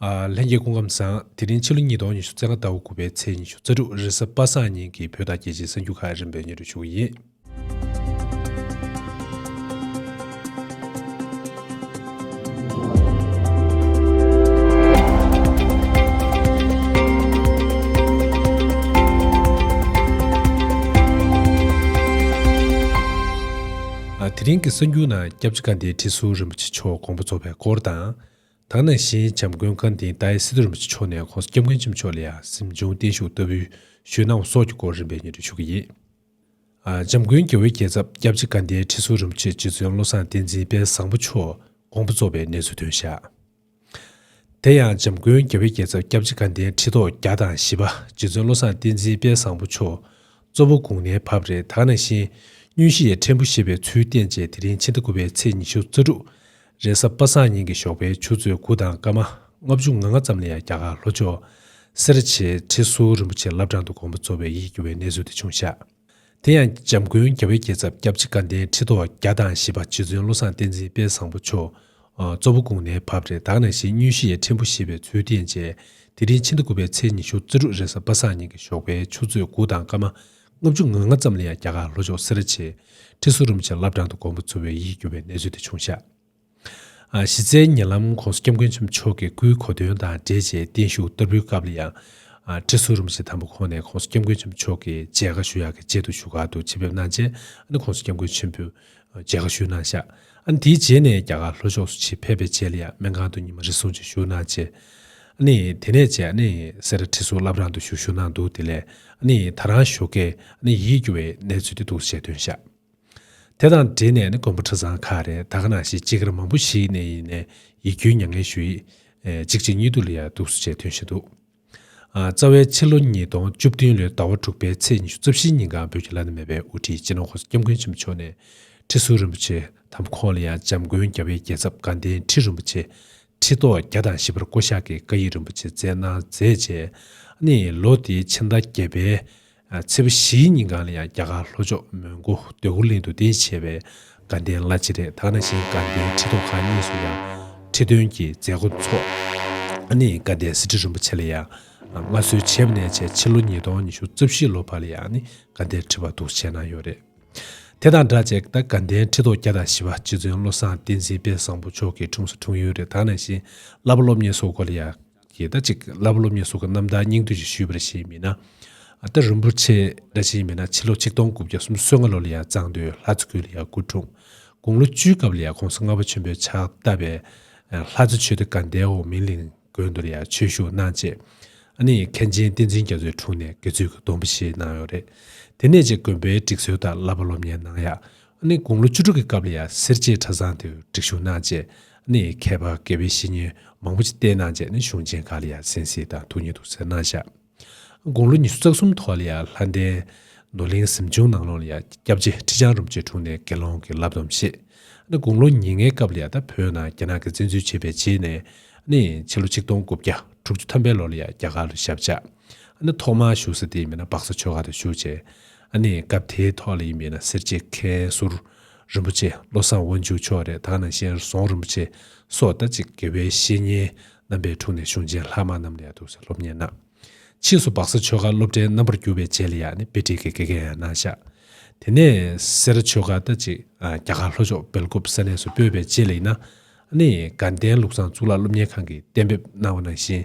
ལྷན་རྒྱས་སྐུ་ཁམས་བཟང། དེ་རིང་ཕྱི་ལོ་ཉིས་སྟོང་ཉི་ཤུ་རྩ་ལྔ་ཟླ་བ་དགུ་པའི་ཚེས་ཉི་ཤུ་རྩ་དྲུག་རེས་གཟའ་པ་སངས་ཉིན་གྱི་བོད་དང་རྒྱལ་སྤྱིའི་གསར་འགྱུར་ཁག་རིམ་པས་ཉན་རུ་ཆུག་གི་ཡིན། དེ་རིང་གི་གསར་འགྱུར་ནང་སྐྱབས་རྗེ་བཀའ་བདེའི་ཁྲི་ཟུར་རིན་པོ་ཆེ་མཆོག་དགོངས་པ་རྫོགས་པའི་སྐོར་དང། དག་ནང་བཞིན་བྱམས་མགོན་བཀའ་དིན་ཏཱའི་སི་ཏུ་རིན་པོ་ཆེ་མཆོག་ནས་ཁོང་སྐྱབས་མགོན་ཆེན་པོ་མཆོག་ལ་ཡང་སེམས་བྱུང་བརྟན་བཞུགས་ལྟ་བུའི་ཞུས་གནང་བ་སོགས་ཀྱི་སྐོར་རིམ་པས་ཉེར་འཕྲི་ཞུ་གི་ཡིན། བྱམས་མགོན་རྒྱལ་བོའི་རྒྱལ་ཚབ་སྐྱབས་རྗེ་བཀའ་དིན་ཁྲི་ཟུར་རིན་པོ་ཆེ་རྗེ་བཙུན་བློ་བཟང་བསྟན་འཛིན་དཔལ་བཟང་པོ་མཆོག་དགོངས་པ་རྫོགས་པའི་གནས་ཚུལ་ཐོན་ཞག་དེ་ཡང་བྱམས་མགོན་རྒྱལ་བོའི་རྒྱལ་ཚབ་སྐྱབས་རྗེ་བཀའ་དིན་ཁྲི་ཐོག་བརྒྱ་དང་བཞི་པ་རྗེ་བཙུན་བློ་བཟང་བསྟན་འཛིན་དཔལ་བཟང་པོ་མཆོག་གཙོ་བོ་དགུང་ནའི་བབས་རེ་དག་ནང་བཞིན་བསྙུན་གཞི་ཡི་ཕྲན་བུ་བཞེས་པའི་ཚུལ་བསྟན་རྗེས་དེ་རིང་ཕྱི་ཟླ་དགུ་པའི་ཚེས་ཉི་ཤུ་རྩ་དྲུག་རེས་གཟའ་པ་སངས་ཉིན་གྱི་ཞོགས་པའི་ཆུ་ཚོད་དགུ་དང་སྐར་མ་ལྔ་བཅུ་ང་ལྔ་ཙམ་ལ་ཡང་རྒྱ་གར་ལྷོ་ཕྱོགས། སེ་ར་བྱེས་ཁྲི་ཟུར་རིན་པོ་ཆེ་བླ་བྲང་དུ་དགོངས་པ་གཙོ་བའི་ཡིད་སྐྱོ་བའི་གནས་ཚུལ་དེ་བྱུང་ཞག། དེ་ཡང་འཇམ་མགོན་རྒྱ་བོད་རྒྱལ་ཚབ་སྐྱབས་རྗེ་དགའ་ལྡན་ཁྲི་ཐོག་བརྒྱ་དང་བཞི་པ་རྗེ་བཙུན་བློ་བཟང་བསྟན་འཛིན་དཔལ་བཟང་པོ་མཆོག་གཙོ་བོ་དགུང་ནའི་བབས་རེ་དྭགས་ནས་བཞེངས་བསྙུན་གཞི་ཡི་ཕྲན་བུ་བཞེས་པའི་ཚུལ་བསྟན་རྗེས་དེ་རིང་ཕྱི་ཟླ་དགུ་པའི་ཚེས་ཉི་ཤུ་རྩི་དྲུག་རེས་གཟའ་པ་སངས་ཉིན་གྱི་ཞོགས་པའི་ཆུ་ཚོད་དགུ་དང་སྐར་མ་ལྔ་བཅུ་ང་ལྔ་ཙམ་ལ་ཡང་རྒྱ་གར་ལྷོ་ཕྱོགས་སེ་ར་ཆེ་ཁྲི་སུ་རུམ་ཆེན་བླ་བྲང་དུ་མགོན་པོ་འཚོ་བའི་ཡིད་སྐྱོ་བའི་གནས་ཚུལ་དེ་བྱུང་ཞག་གཞི་རྩའི་ཉེ་ལམ ྋགོང་ས་སྐྱབས་མགོན་ཆེན་པོ་མཆོག་གི་སྐུའི་གོ་སྟོན་དང་འབྲེལ་རྗེས་བརྟན་བཞུགས་བསྟར་འབུལ་སྐབས་ལ་ཡང། ཁྲི་སུ་རུམ་ཆེན་དང་པོ་ཁོང་ནས ྋགོང་ས་སྐྱབས་མགོན་ཆེན་པོ་མཆོག་གི་མཇལ་ཁ་ཞུ་ཡག་གི་ཆེད་དུ་བཞུགས་སྒར་དུ་ཆེད་ཕེབས་གནང་རྗེས ྋགོང་ས་སྐྱབས་མགོན་ཆེན་པོས་མཇལ་ཁ་ཞུས་གནང་ཤག་ཨ་ནི་དེའི་རྗེས་ནས་རྒྱ་གར་ལྷོ་ཕྱོགས་སུ་ཆེས་ཕེབས་པའི་རྗེས་ལ་ཡང་སྨན་ཁང་དུ་ཉི་མ་རེ་ཟུང་ཅིག་བཞུགས་གནང་རྗེས། ཨ་ནི་དེ་ནས་རྗེས་ཨ་ནི་སེ་ར་ཁྲི་སོག་བླ་བྲང་དུ་བཞུགས་བཞུགས་གནང་འདུག་དེ་ལས་ཨ་ནི་ད་རང་བཞུགས་སྐད་ཨ་ནི་ཡིད་སྐྱོ་བའི་གནས་ཚུལ་དེ་འདུག་ཞེས་སྟོན་ཤག་དེ་དང་འབྲེལ་ནས་ཨ་ནི་མགོན་པོ་ཁྲི་བཟང་ཁ་རེ་ད་ག་ན་ཞིག་ཅི་དགར་མང་པོ་ཞིག་ནས་ཡིན་ནས་ཡིད་སྐྱོའི་མྱ་ངན་ཞུ་ཡིག་ཅིག་ཅིག་གཉིས་འདུག་ལ་ཡ་འདུག་སུ་ཅེས་ཐོན་བཞིན་འདུག། རྩ་བའི་ཕྱི་ལོ་ཉིས་སྟོང་བཅུ་བདུན་ལོའི་ཟླ་བ་དྲུག་པའི་ཚེས་ཉི་ཤུ་རྩ་བཞིའི་ཉིན་གངས་བོད་ཀྱི་བླ་ན་མེད་པའི་དབུ་ཁྲིད་སྤྱི་ནོར་ཧོར་ཟླ་སྐྱབས་མགོན་ཆེན་པོ་མཆོག་ནས་ཁྲི་ཟུར་རིན་པོ་ཆེ་དམ་ཁོང་ལ་ཡང་འཇམ་མགོན་རྒྱ་བོད་རྒྱལ་ཚབ་དགའ་ལྡན་ཁྲི་རིན་པོ་ཆེ་ཁྲི་ཐོག་བརྒྱ་དང་བཞི་པར་བསྐོ་བཞག་གིས་བཀའ་ཡིག་རིན་པོ་ཆེ་བསྩལ་གནང་མཛད་རྗེས་ནས་ལོ་དེའི་ཕྱི་ཟླ་བརྒྱད་པའི་ཚེས་པ་བཞིའི་ཉིན་གང་ལ་ཡང་རྒྱ་གར་ལྷོ་ཕྱོགས་མོན་གྷོ་འདོད་རྒུ་གླིང་དུ་གདན་བཞེས་པའི་དགའ་ལྡན་བླ་སྤྱི་རེ་དག་ན་ཞིང་དགའ་ལྡན་ཁྲི་ཐོག་ཁང་གཉིས་སུ་ཡང་ཁྲི་སྟོན་གྱི་མཛད་སྒོ་འཚོགས། ནི་དགའ་ལྡན་སི་ཏྲི་རིན་པོ་ཆེ་ལ་ཡང་མངའ་གསོལ་བྱས་པ་ནས་བྱས་ཕྱི་ལོ་ཉིས་སྟོང་ཉི་ཤུ་རྩ་བཞི་ལོ་བར་ལ་ཡང་ནི་དགའ་ལྡན་ཁྲི་བར་འདུག་བྱས་གནང་ཡོད་རེད། དེ་དང་འདྲ་བྱས་དགའ་ལྡན་ཁྲི་ཐོག་བརྒྱ་དང་བཞི་བ་རྗེ་བཙུན་བློ་བཟང་བསྟན་འཛིན་དཔལ་བཟང་པོ་མཆོག་གི་དྲུང་སོ་དྲུང་ཡོན་རེ་དག་ན་ཞིང་བླ་པ་སློབ་གཉེར་སོགས་སྐོར་ལ་ཡང། ཞེས་ད་ཅིག་བླ་མ་སློབ་གཉེར་སོགས་ཀྱི་རྣམ་ཐར་སྙིང་བསྡུས་ཀྱིས་ཞུས་པར་བྱས་མིན་ན། ཨ་སྟག་རིན་པོ་ཆེ་སྒྲ་ཆེན་མིན་ན་ཕྱི་ལོ་ཆིག་སྟོང་དགུ་བརྒྱ་སུམ་སོ་ལྔ་ལོ་ལ་ཡང་གཙང་སྟོད་ལྷ་རྩེ་ཁུལ་ལ་ཡང་སྐུ་འཁྲུངས། དགུང་ལོ་བཅུའི་སྐབས་ལ་ཡང་ཁོང་ས་ལྔ་པ་ཆེན་པོའི་ཕྱག་བཏབ་པས། ལྷ་རྩེ་ཆོས་སྡེ་དགའ་ཟླའི་འོག་མིན་གླིང་དགོན་དུ་ལ་ཡང་ཆོས་ཞུགས་གནང་རྗེས། ཨ་ནེ་ཡི་མཁན་ཆེན་བསྟན་འཛིན་རྒྱ་མཚོའི་དྲུང་ནས་དགེ་ཚུལ་གྱི་སྡོམ་པ་བཞེས་གནང་ཡོད་རེད། དེ་ནས་ཅེས་དགོན་པའི་སྒྲིག་སྲོལ་ལྟར་བླ་མ་སློབ་གཉེར་གནང་ཡག་ནས་དགུང་ལོ་བཅུ་དྲུག་གི་སྐབས་ལ་ཡང་སེར་བྱེས་གྲྭ་ཚང་དུ་སྒྲིག་ཞུགས་གནང་རྗེས། ནས་མཁས་པ་དགེ་བའི་བཤེས་གཉེན་མང་པོ་ཅིག་བསྟེན་གནང་རྗེས་ནས་གཞུང་ཆེན་ཁག་ལ་ཡང་གསན་གཟིགས་དང་ཐུགས་ཉེ་དུ་སེར་སྣང་བཞག། དགུང་ལོ་ཉི་ཤུ་རྩ་གསུམ་ཐོག་ལ་ཡང་ལྷ་ལྡན། ནོར་གླིང་གཟིམ་ཆུང་ནང་ལོགས་ལ་ཡང་སྐྱབས་རྗེ་ཁྲི་བྱང་རུམ་ཆེ་དྲུང་ནས་དགེ་སློང་གི་བསླབ་སྡོམ་བཞེས། ནས་དགུང་ལོ་ཉེར་ལྔའི་སྐབས་ལ་ཡང་ད་བོད་ནང་རྒྱ་ནག་གི་བཙན་འཛུལ་བྱས་པའི་རྗེས་ནས། ནས་ཕྱི་ལོ་ཆིག་སྟོང་དགུ་བརྒྱ་དྲུག་ཅུ་ཐམ་པའི་ལོ་ལ་ཡང་རྒྱ་གར་དུ་ཞབས་བཅགས། ནས་ཐོག་མར་བཞུགས་ས་དེ་མིན་ན་སྦག་ས་ཆོས་ཁང་དུ་བཞུགས་རྗེས། ཨ་ནི་སྐབས་དེའི་ཐོག་ལ་ཡིན་པས་ན་སེར་བྱེས་མཁན་ཟུར་རིན་པོ་ཆེ་བློ་བཟང་དབང་ཕྱུག་མཆོག་རེད་ད་ན་གཤེན་ཟོང་རིན་པོ་ཆེ་སོགས་ཟླ་གཅིག་དགེ་བའི་བཤེས་གཉེན་རྣམ་པའི་དྲུང་ནས་གཞུང་ཆེན་ལྷག་མ་རྣམས་ལས་ཐུགས་གསལ་སློབ་གཉེར་གནང། ཕྱིས་སུ་སྦག་ས་ཆོལ་ཁ་སློབ་གྲྭའི་རྣམ་པར་གྱུར་པའི་རྗེས་ལ་ཡང་ནི་དཔེ་ཁྲིད་ཀྱི་དགེ་རྒན་ཡང་གནང་བཞག་དེ་ནས་སེ་ར་ཆོལ་ཁ་ཟླ་གཅིག་རྒྱ་གར་ལྷོ་ཕྱོགས་སྦེལ་ཀོབ་ས་གནས་སུ་སྤོས་པའི་རྗེས་ལ་ཡིན་ན་ཨ་ནི་དགའ་ལྡན་ལུགས་བཟང་གཙུག་ལག་སློབ་གཉེར་ཁང་གིས་གཏན་འབེབས་གནང་བ་ནང་བཞིན་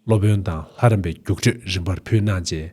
སློབ་དཔོན་དང་ལྷ་རམས་པའི་རྒྱུགས་སྤྲོད་རིམ་པར་ཕུལ་གནང་རྗེས་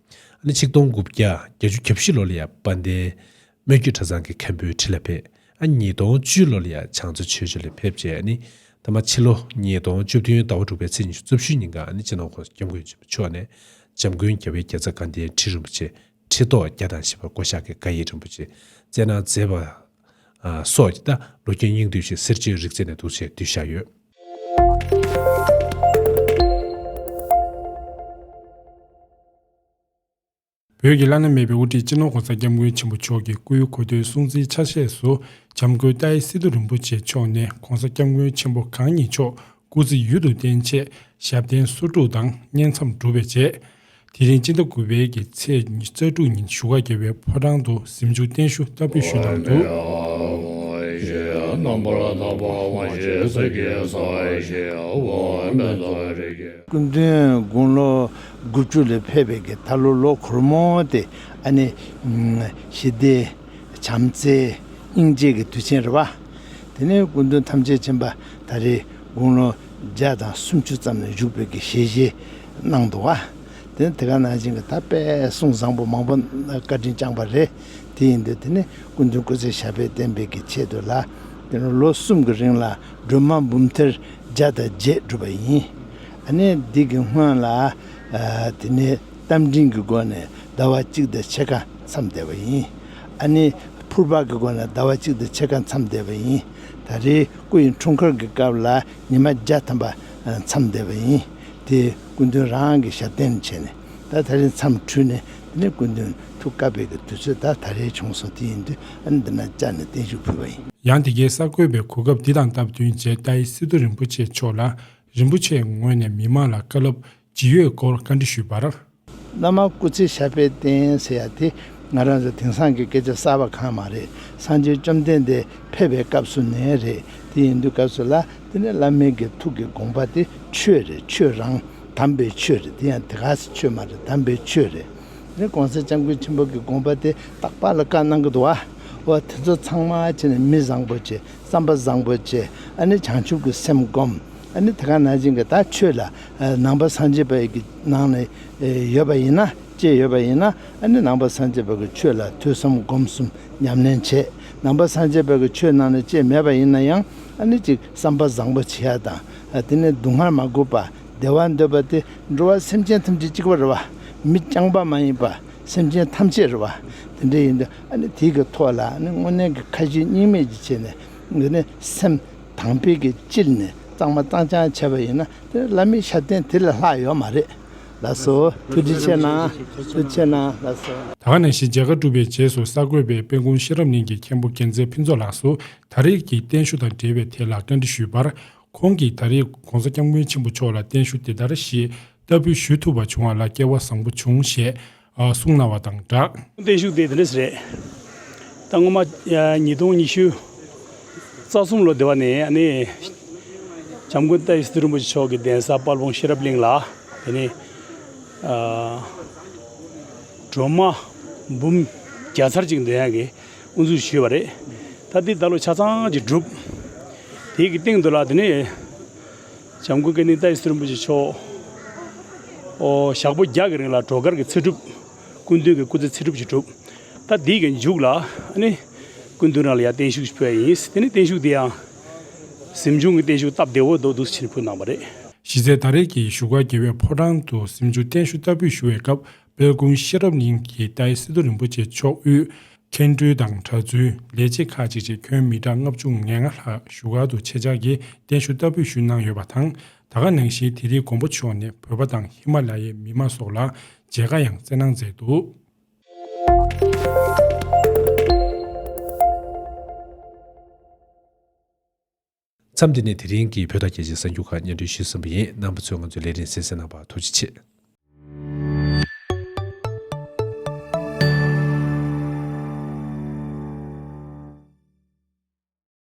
ནི་ཆིག་སྟོང་དགུ་བརྒྱ་བརྒྱད་ཅུ་གྱ་བཞི་ལོ་ལ་ཡང་དཔལ་ལྡན་སྨོན་རྒྱུད་གྲྭ་ཚང་གི་མཁན་པོའི་ཁྲི་ལ་ཕེབས། ཉིས་སྟོང་བཅུ་ལོ་ལ་ཡང་བྱང་རྩེ་ཆོས་སྦྱིན་ལ་ཕེབས་རྗེས་ནི་ད་མ་ཕྱི་ལོ་ཉིས་སྟོང་བཅུ་བདུན་ཟླ་བ་དྲུག་པའི་ཚེས་ཉི་ཤུ་རྩུབ་ཤུལ་ཉིན་གང་ནི་སྤྱི་ནོར་ཁོངས་སུ་སྐྱབས་མགོན་ཆེན་པོ་མཆོག་ནས་འཇམ་མགོན་རྒྱལ་བའི་རྒྱལ་ཚབ་དགའ་ལྡན་ཁྲི་རིན་པོ་ཆེ་ཁྲི་ཐོག་བརྒྱ་དང་བཞི་པ་བསྐོ་བཞག་གི་བཀའ་ཡིག་རིན་པོ་ཆེ་བསྩལ་གནང་མཛད་པ། སོགས་ཀྱི་བརྡ་ལོ་རྒྱུས་སྙིང་བསྡུས་ཤིག་སེར་བྱེས་རིག་རྩལ་ནས་འདུག་ཅེས་བསྡུས་བཞག་ཡོད། བོད་ཀྱི་བླ་ན་མེད་པའི་དབུ་ཁྲིད་སྤྱི་ནོར་གོང་ས་སྐྱབས་མགོན་ཆེན་པོ་མཆོག་གི་སྐུའི་གོ་སྟོད་སྲུང་བརྩིའི་ཆ་ཤས་སུ་འཇམ་མགོན་རྟ་ཨེ་སི་ཏུ་རིན་པོ་ཆེ་མཆོག་ནས་གོང་ས་སྐྱབས་མགོན་ཆེན་པོ་གང་ཉིད་མཆོག་སྐུ་ཚེ་ཡུན་དུ་བརྟན་ཆེད་ཞབས་བརྟན་སོ་དྲུག་དང་བསྙེན་མཚམས་སྒྲུབ་པའི་རྗེས། དེ་རིང་སྤྱི་ཟླ་དགུ་པའི་གི་ཚེས་རྩ་དྲུག་ཉིན་བཞུགས་སྒར་རྒྱལ་བའི་ཕོ་བྲང་དུ་གཟིམས་ཆུང་བརྟན་བཞུགས་བསྟར་འབུལ་ཞུས་གནང་འདུག། སྐུ་མདུན་དགུང་ལོ་དགུ་བཅུ་ལས་ཕེབས་པའི་གི་ད་ལོ་ལོ་གོར་མོ་སྟེ་ཨ་ནེ། ཞི་བདེ། བྱམས་བརྩེ། སྙིང་རྗེ་གི་དུས་ཆེན་རེད་བ། དེ་ནས་སྐུ་མདུན་ཐམས་ཅད་མཆན་པ་ད་རེས་དགུང་ལོ་བརྒྱད་དང་སུམ་ཅུ་ཙམ་ནས་བཞུགས་སྤོས་ཀྱི་ཞལ་བཞེས་གནང་འདུག་བ། དེ་ནི་དེ་ག་ནང་བྱན་གྱི་དག་པའི་གསུང་བཟང་པོ་མང་པོ་བཀའ་དྲིན་བསྐྱངས་པ་རེད་དེ་ཡིན་དུས་དེ་ནས་སྐུ་མདུན་སྐུ་ཚེ་ཞབས་པད་བརྟན་སྤེལ་གྱི་ཆེད་དུ་ལ་དེ་ནས་ལོ་གསུམ་གྱི་རིང་ལ་སྒྲོལ་མ་འབུམ་ཐེར་བརྒྱ་དང་བརྒྱད་བསྒྲུབས་པ་ཡིན། ཨ་ནེ་འདི་གི་སྔོན་ལ་དེ་ནས་རྟ་མགྲིན་གྱི་སྒོ་ནས་ཟླ་བ་གཅིག་དང་ཕྱེད་ཀ་མཚམས་བསྡད་པ་ཡིན། ཨ་ནེ་ཕུར་པ་གི་སྒོ་ནས་ཟླ་བ་གཅིག་དང་ཕྱེད་ཀ་མཚམས་བསྡད་པ་ཡིན། ད་རེས་སྐུ་ཡི་འཁྲུངས་སྐར་གྱི་སྐབས་ལ་ཉི་མ་བརྒྱ་ཐམ་པ་མཚམས་འདས་པ་ཡིན། དེས་སྐུ་མདུན་རང་གི་ཞབས་བརྟན་བྱས་ནས་ད་ད་རེས་མཚམས་འཁྲུལ་ནས་དེ་ནས་སྐུ་མདུན་ཐུགས་དཀའ་བས་ཀྱི་དུས་ཚོད་ད་ད་རེས་བྱུང་སོང་དེ་ཡིན་དུས་འདི་ན་བཅར་ནས་བརྟན་བཞུགས་ཕུལ་བ་ཡིན། ཡང་དེ་གའི་གསར་འགོད་པས་གོ་སྐབས་འདི་དང་སྟབས་བསྟུན་རྗེ་རྟ་ཡེ་སི་ཏུ་རིན་པོ་ཆེ་མཆོག་ལ་རིན་པོ་ཆེའི་ངོས་ནས་མི་མང་ལ་བཀའ་སློབ་ཇི་ཡོད་སྐོར་བཀའ་འདྲི་ཞུས་པར། བླ་མ་སྐུ་ཚེ་ཞབས་པད་བརྟན་ཟེར་ཡ་དེ་ང་རང་ཚོ་དེང་སང་གི་སྐད་ཆ་གསར་བ་གང་མ་རེད་སངས་རྒྱས་བཅོམ་ལྡན་འདས་ཕེབས་པའི་སྐབས་སུ་ནས་རེད་དེ་ཡིན་དུས་སྐབས་སུ་ལ་དེ་ནས་བླ་མའི་དགེ་ཐུགས་ཀྱི་དགོངས་པ་དེ་ཆོས་རེད་ཆོས་རང་དམ་པའི་ཆོས་རེད་དེ་ཡང་དེ་ག་ཟེ་ཆོས་མ་རེད་དམ་པའི་ཆོས་རེད་དེ་གོང་ས་སྤྱང་ཀུན་ཆེན་པོ་གི་དགོངས་པ་དེ་རྟག་པར་ལ་བཀའ་གནང་གི་འདུག་བ་དེ་ཚོ་ཚང་མ་བྱེད་ནས་མི་བཟང་པོ་བྱེད་བསམ་པ་བཟང་པོ་བྱེད་ཨ་ནི་བྱང་ཆུབ་ཀྱི་སེམས་སྒོམ། ཨ་ནི་དེ་ག་ནང་བཞིན་གྱི་ད་ཆོས་ལ་ནང་པ་སངས་རྒྱས་པའི་གི་ནང་ནས་ཡོད་པ་ཡིན་ན་ཅེས་ཡོད་པ་ཡིན་ན་ཨ་ནི་ནང་པ་སངས་རྒྱས་པའི་གི་ཆོས་ལ་ཐོས་བསམ་སྒོམ་གསུམ་ཉམས་ལེན་བྱས་ནང་པ་སངས་རྒྱས་པའི་གི་ཆོས་ནང་ནས་ཅེས་མེད་པ་ཡིན་ན་ཡང་ཨ་ནི་ཅིག་བསམ་པ་བཟང་པོ་བྱེད་ཡ་དང་དེ་ནས་སྡུག་བསྔལ་མ་གོས་པ་བདེ་བ་འདོད་པ་སྟེ་འགྲོ་བ་སེམས་ཅན་ཐམས་ཅད་གཅིག་པ་རེ་བ་མི་རྐྱང་པ་མ་ཡིན་པ་སེམས་ཅན་ཐམས་ཅད་རེ་བ་དེ་འདྲ་ཡིན་ཏེ་ཨ་ནི་དེའི་གི་ཐོག་ལ་ཨ་ནི་སྔོན་གནས་གི་ཁ་ཞེ་གཉིས་མེད་ཀྱི་ཆེད་ནས་གི་ནི་སེམས། དང་བེད་ཀྱི་སྤྱིར་ནི་གཙང་མ་གཙང་ཆང་བྱས་པ་ཡིན་ན་དེར་བླ་མའི་ཕྱག་རྟེན་དེ་ལས་ལྷག་ཡོད་མ་རེད་ལ་སོགས་ཐུགས་རྗེ་ཆེ་གནང་ཐུགས་ཆེ་གནང་ལ་སོགས། ད་ག་ནས་ཞིག་མཇལ་ཁ་བསྒྲུབས་པའི་རྗེས་སུ་གསར་འགོད་པས་དཔལ་ཀུན་ཤེས་རབ་གླིང་གི་མཁན་པོ་དགེ་མཛེས་ཕུན་ཚོགས་ལགས་སུ་ད་རེས་ཀྱི་བརྟན་བཞུགས་དང་འབྲེལ་བའི་ཐད་ལ་བཀའ་འདྲི་ཞུས་པར། ཁོང་གིས་ད་རེས ྋགོང་ས ྋསྐྱབས་མགོན་ཆེན་པོ་མཆོག་ལ་བརྟན་བཞུགས་འདི་ལྟར་ཞེས་ལྟ་བུ་ཞུས་ཐུབ་པ་བྱུང་བ་ལ་སྐལ་བ་བཟང་པོ་བྱུང་ཞེས་གསུང་གནང་བ་དང་སྦྲགས། བརྟན་བཞུགས་དེ་འདི་འདྲ་ཞིག་རེད། ད་སྔོན་མ་ཉིས་སྟོང་ཉི་ཤུ་རྩ་གསུམ་ལོ་སྡེ་བ་ནས་ཨ་ནེ་བྱམས་མགོན་ཏཱའི་སི་ཏུ་རིན་པོ་ཆེ་མཆོག་གི་གདན་ས་དཔལ་སྤུངས་ཤེས་རབ་གླིང་ལ་དེ་ནས་སྒྲོལ་མ་འབུམ་བརྒྱ་ཚར་གཅིག་འདོན་དབྱངས་ཀྱི་དབུ་འཛུགས་ཞུས་པ་རེད། ད་ལྟའི་ད་ལོ་ཆ་ཚང་གི་གྲུབ། དེའི་གི་སྟེང་དུ་ལ་དེ་ནས་བྱམས་སྐུ་ཀ་ནི་རྟ་ཡི་སྲིན་པོ་ཆེ་མཆོག། ཞག་པོ་བརྒྱག་གི་རིང་ལ་གྲོག་མཁར་གྱི་ཚེ་སྒྲུབ། སྐུ་མདུན་གྱི་སྐུ་ཚེ་ཚེ་སྒྲུབ་ཅིག་གྲུབ། ད་འདི་གི་མཇུག་ལ་ནི། སྐུ་མདུན་རང་ལ་ཡང་བརྟན་བཞུགས་ཞིག་ཕུལ་བ་ཡིན། དེ་ནས་བརྟན་བཞུགས་དེ་ཡང། གཟིམ་ཆུང་གི་བརྟན་བཞུགས་སྟབས་བདེ་བོ་མདོ་སྡུག་སུ་ཕྱིན་ཕུལ་གནང་བ་རེད། གཞི་རྩའི་ད་རེས་ཀྱི་བཞུགས་སྒར་རྒྱལ་བའི་ཕོ་བྲང་དུ་གཟིམ་ཆུང་བརྟན་བཞུགས་སྟབས་བུས་བཞུགས་བའི་སྐབས་སྦེལ་ཀུང་ཤེས་རབ་གླིང་གི་ཏཱའི་སི་ཏུ་རིན་པོ་ཆེ་མཆོག་དབུས་མཁན་སྤྲུལ་དང་གྲྭ་བཙུན་ལས་བྱེད་ཁག་ཅིག་བཅས་ཁྱོན་མི་གྲངས་ལྔ་བཅུ་ང་ལྔ་ལྷག་བཞུགས་སྒར་དུ་ཆེད་བཅར་གྱིས་གདན་ཞུ་ལྟ་བུས་ཞུས་གནང་ཡོད་པ་དང་ད་ག་ནང་བཞིན་དེ་རིང་མགོན་པོ་མཆོག་ནས་བོད་པ་དང་ཧི་མ་ལ་ཡའི་མི་དམངས་སོགས་ལ་མཇལ་ཁ་ཡང་བསྩལ་གནང་མཛད་འདུག། མཚམས་འདི་ནས་དེ་རིང་གི་བོད་དང་རྒྱལ་སྤྱིའི་གསར་འགྱུར་ཁག་སྙན་སྒྲོན་ཞུས་ཟིན་པ་ཡིན་རྣམ་པ་ཚོས་ང་ཚོའི་ལས་རིང་བསྲེལ་གསན་གནང་བར་ཐུགས་རྗེ་ཆེ།